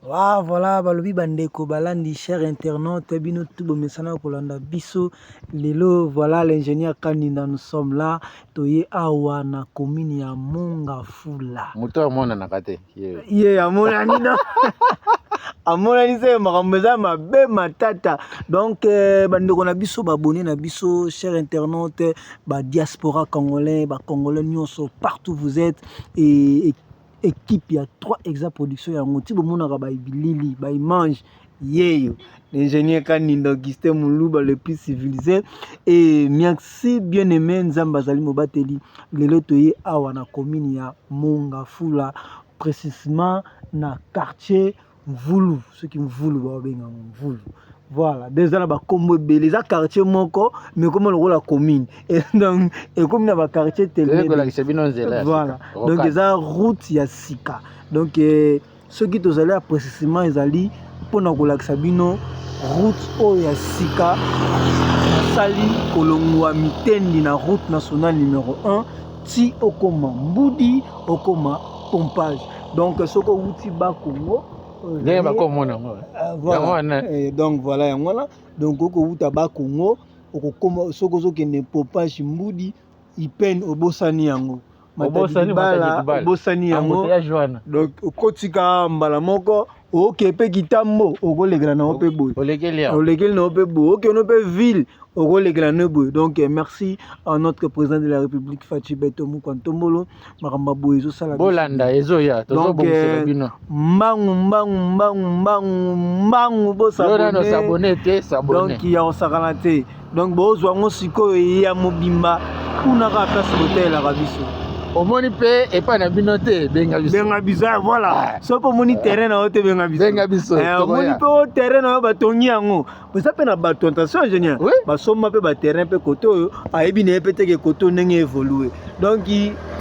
Wa voilà balobi bandeko balandi cher internaute bino tu bomesana kolanda biso lelo voilà l'ingénieur Kandinda nous sommes là toye awa na commune ya Mongafula moto amonanaka te ye amonani no amonani se makambo eza mabe matata donc euh, bandeko na biso babone na biso cher internaute badiaspora congolais bacongolais nyonso partout vous êtes et, et equipe ya 3 exa production yango ti bomonaka ba bilili ba image yeyo l'ingénieur Kanindo Augustin Muluba le plus civilisé et merci bien aimé Nzambe azali mobateli lelo toye awa na commune ya Mongafula précisément na quartier mvulu soki mvulu baobenga yango mvulu voilà donc eza na bakombo ebele eza quartier moko mais ekoma lokola commune donc ekomi na baquartier telkolakisa bino nzela voilà donc eza route ya sika donc eh, soki tozali ya précisement ezali mpo na kolakisa bino route oyo ya sika asali kolongwa mitendi na route nationale numero 1 ti okoma mbudi okoma pompage donc soki owuti ba congo ndenge bakomona yango eh, eh, eh, donc voilà yango wana donc okowuta ba congo okokoma soki ozokende popage mbudi ipene obosani yango obosani yango donc okotika mbala moko oke mpe kitambo okolekela na yo mpe boye olekeli na yo mpe boye okeno mpe ville okolekela na yo boye donc eh, merci à notre président de la république faci beto mokwa ntombolo makambo ya boye ezosala bolanda ezoya tozobongisela eh, bino mbangu mbangu mbangu mbangu mbangu bosabone te sabone donc ya kosakana te donc bozwa yango sikoyo eye ya mobimba kuna kaka place botelelaka biso omoni mpe epai na bino te benga biso benga biso eh, voilà ah. soki omoni terrain na yo te benga biso benga biso eh, omoni mpe o terrain na yo batongi yango eza mpe na bato attention ingénieur basomba mpe baterrain mpe kote oyo ayebi na ye mpe teke kote ndenge evolue donc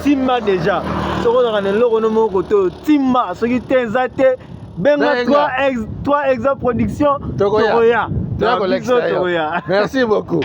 timba déjà soki ozalaka na eloko no moko kote oyo timba soki te eza te benga 3 exa production tokoya tokoya merci beaucoup